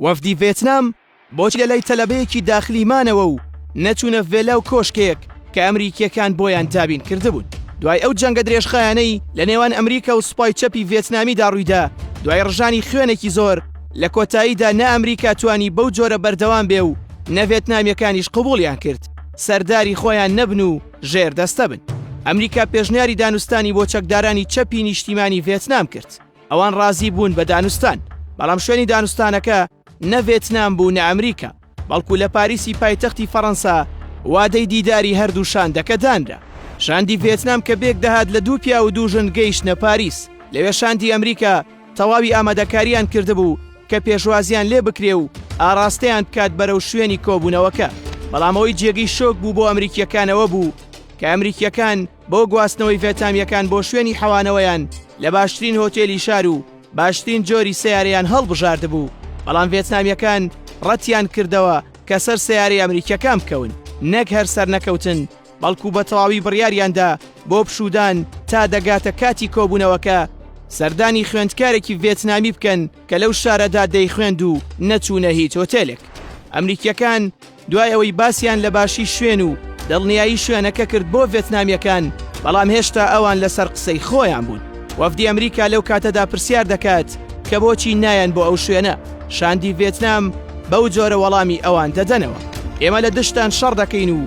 وەفدی ڤێتنام بۆچی لەلای تەلەبەیەکی داخلی مانەوە و نەچوونە ڤێلا و کۆشکێک کە ئەمریکییەکان بۆیان دابین کردبوون؟ دوای ئەو جەنگە درێژخایەنەی لە نێوان ئەمریکا و سوپای چەپی ڤێتنامیدا ڕوویدا، دوای ڕژانی خوێنێکی زۆر، لە کۆتاییدا نە ئەمریکا توانی بەو جۆرە بەردەوام بێ و نە ڤێتنامییەکانیش قبووڵیان کرد سەرداری خۆیان نەبن و ژێردەستە بن. ئەمریکا پێشنیاری دانوستانی بۆ چەکدارانی چەپی نیشتیمانی ڤێتنام کرد. ئەوان ڕازی بوون بە دانوستان بەڵام شوێنی دانوستانەکە نە ڤێتنام بوو نە ئەمریکا بەڵکو لە پاریسی پایتەختی فەڕەنسا وادەی دیداری هەردوو شاندەکە دانرا شاندی ڤێتنام کە بێک دەهات لە دوو پیا و دوو ژن گەیشتە پاریس لەوێ شاندی ئەمریکا تەواوی ئامادەکاریان کردبوو کە پێشوازیان لێ بکرێ و ئاراستەیان بکات بەرەو شوێنی کۆبوونەوەکە بەڵامەوەی جێگەی شۆک بوو بۆ ئەمریکیەکانەوە بوو کە ئەمریکیەکان بۆ گواستنەوەی ڤێتامییەکان بۆ شوێنی حەوانەوەیان لە باشترین هۆتێلی شار و باشترین جۆری سەیارەیان هەڵبژاردبوو، بەڵام ڤێتنامییەکان ڕەتیان کردەوە کە سەر سەیارەی ئەمریکییەکان بکەون، نەک هەر سەرنەکەوتن، بەڵکو بە تەواوی بڕیاریاندا بۆ پشوودان تا دەگاتە کاتی کۆبوونەوەکە، سەردانی خوێندکارێکی ڤێتنامی بکەن کە لەو شارەدا دەیخوێند و نەچوونە هیچ هۆتێلێک. ئەمریکییەکان دوای ئەوەی باسیان لە باشی شوێن و دڵنیایی شوێنەکە کرد بۆ ڤێتنامییەکان، بەڵام هێشتا ئەوان لەسەر قسەی خۆیان بوون. وەفدی ئەمریکا لەو کاتەدا پرسیار دەکات کە بۆچی نایەن بۆ ئەو شوێنە، شاندی ڤێتنام بەو جۆرە وەڵامی ئەوان دەدەنەوە، ئێمە لە دژتان شەڕ دەکەین و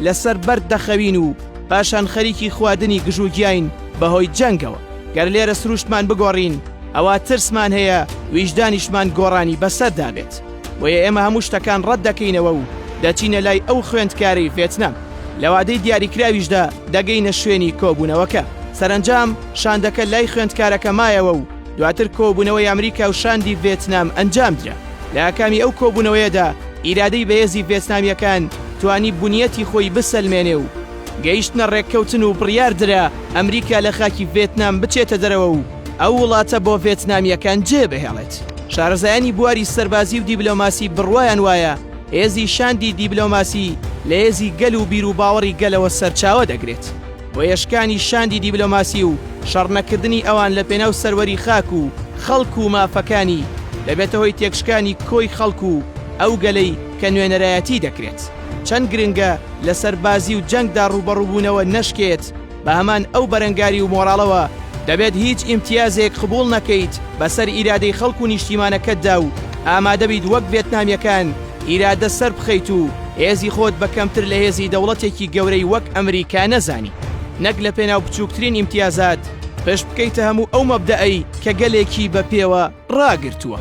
لەسەر بەرد دەخەوین و پاشان خەریکی خواردنی گژوگیاین بەهۆی جەنگەوە، گەر لێرە سروشتمان بگۆڕین ئەوا ترسمان هەیە ویژدانیشمان گۆڕانی بەسەردا بێت. بۆیە ئێمە هەموو شتەکان ڕەت دەکەینەوە و دەچینە لای ئەو خوێندکارەی ڤێتنام. لە وادەی دیاریکراویشدا دەگەینە شوێنی کۆبوونەوەکە. سەرەنجام شاندەکە لای خوێندکارەکە مایەوە و دواتر کۆبوونەوەی ئەمریکا و شاندی ڤێتنام ئەنجامدرا. لە ئاکامی ئەو کۆبوونەوەیەدا ئیرادەی بەهێزی ڤێتنامییەکان توانی بنیەتی خۆی بسەلمێنێ و گەیشتنە ڕێککەوتن و بڕیاردرا ئەمریکا لە خاکی ڤێتنام بچێتە دەرەوە و ئەو وڵاتە بۆ ڤێتنامییەکان جێ بهێڵێت. شارەزایانی بواری سەربازی و دیبلۆماسی بڕوایان وایە هێزی شاندی دیبلۆماسی لە هێزی گەل و بیروباوەڕی گەلەوە سەرچاوە دەگرێت. هۆیەشکانی شاندی دیبلۆماسی و شەڕنەکردنی ئەوان لە پێناو سەروەری خاک و خەڵک و مافەکانی، دەبێتە هۆی تێکشکانی کۆی خەڵک و ئەو گەلەی کە نوێنەرایەتی دەکرێت. چەند گرنگە لە سەربازی و جەنگدا ڕووبەڕووبوونەوە نەشکێت، بە هەمان ئەو بەرەنگاری و مۆراڵەوە دەبێت هیچ ئیمتیازێک قبوڵ نەکەیت بەسەر ئیرادەی خەڵک و نیشتیمانەکەتدا و ئامادەبیت وەک ڤێتنامیەکان ئیرادە سەربخەیت و هێزی خۆت بە کەمتر لە هێزی دەوڵەتێکی گەورەی وەک ئەمریکا نەزانی نەک لە پێناو بچووکترین ئیمتیازات پشت بکەیتە هەموو ئەو مەبدەئی کە گەلێکی بە پێوە ڕاگرتووە.